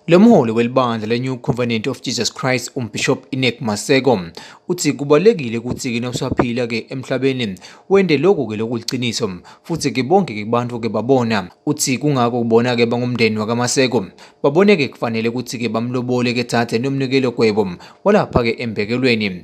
Lo mholi welibandla le-New Covenant of Jesus Christ uMbishop Inek Maseko uthi kubalulekile ukuthi-ke nawusaphila-ke emhlabeni wende lokhu-ke lokuliqiniso futhi-ke bonke-ke kubantu-ke babona uthi kungako kubona-ke bangumndeni wakaMaseko babone-ke kufanele ukuthi-ke bamlobole-ke thathe nomnikelo gwebo walapha-ke embekelweni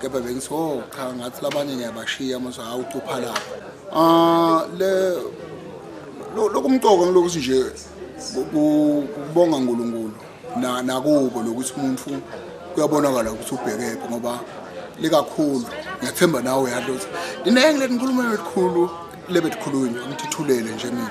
kepha bengithi o cha ngathi labanye ngiyabashiya mase hawu ucupha lapho ah le lokumcoka ngilokuthi nje kubonga uNkulunkulu na nakubo lokuthi umuntu kuyabonakala ukuthi ubhekephi ngoba likakhulu ngiyathemba nawe yadlo ukuthi ninenge leninkulumo elikhulu lebethikhulunywa ngithithulele nje mina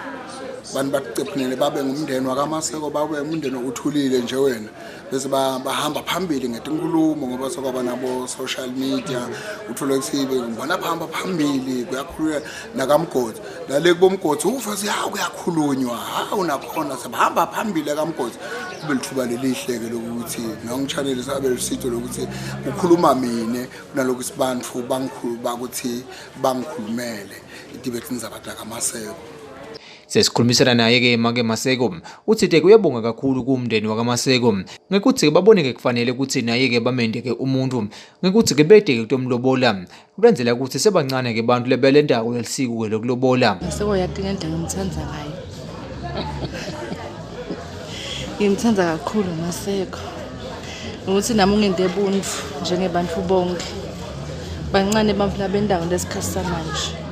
bantu bakucephinele babe ngumndeni wakamaseko babe umndeni uthulile nje wena bese bahamba phambili ngetinkulumo ngoba sokwaba nabo social media uthola ukuthi ngibona bahamba phambili kuyakhulula nakamgodi nale kubomgodi ufa siyawu kuyakhulunywa hawu nakhona sebahamba phambili akamgodi kube lithuba lelihle-ke lokuthi nongitshaneli sabe lusitho lokuthi kukhuluma mina kunalokhu isibantu bakuthi bangikhulumele idibethini zabantu akamaseko Sesikhulumisana naye-ke make Maseko uthi-ke uyabonga kakhulu kuwumndeni wakaMaseko ngekuthi-ke babone-ke kufanele ukuthi naye-ke bamende-ke umuntu ngekuthi-ke bede-ke kutomlobola kulenzela ukuthi sebancane-ke bantu lebele ndako lelisiko-ke lokulobola Maseko yati ngendlela ngimthanda ngayo ngimthanda kakhulu Maseko ngokuthi nami ungende buntu njengebantu bonke bancane abantu labendawo lesikhathi samanje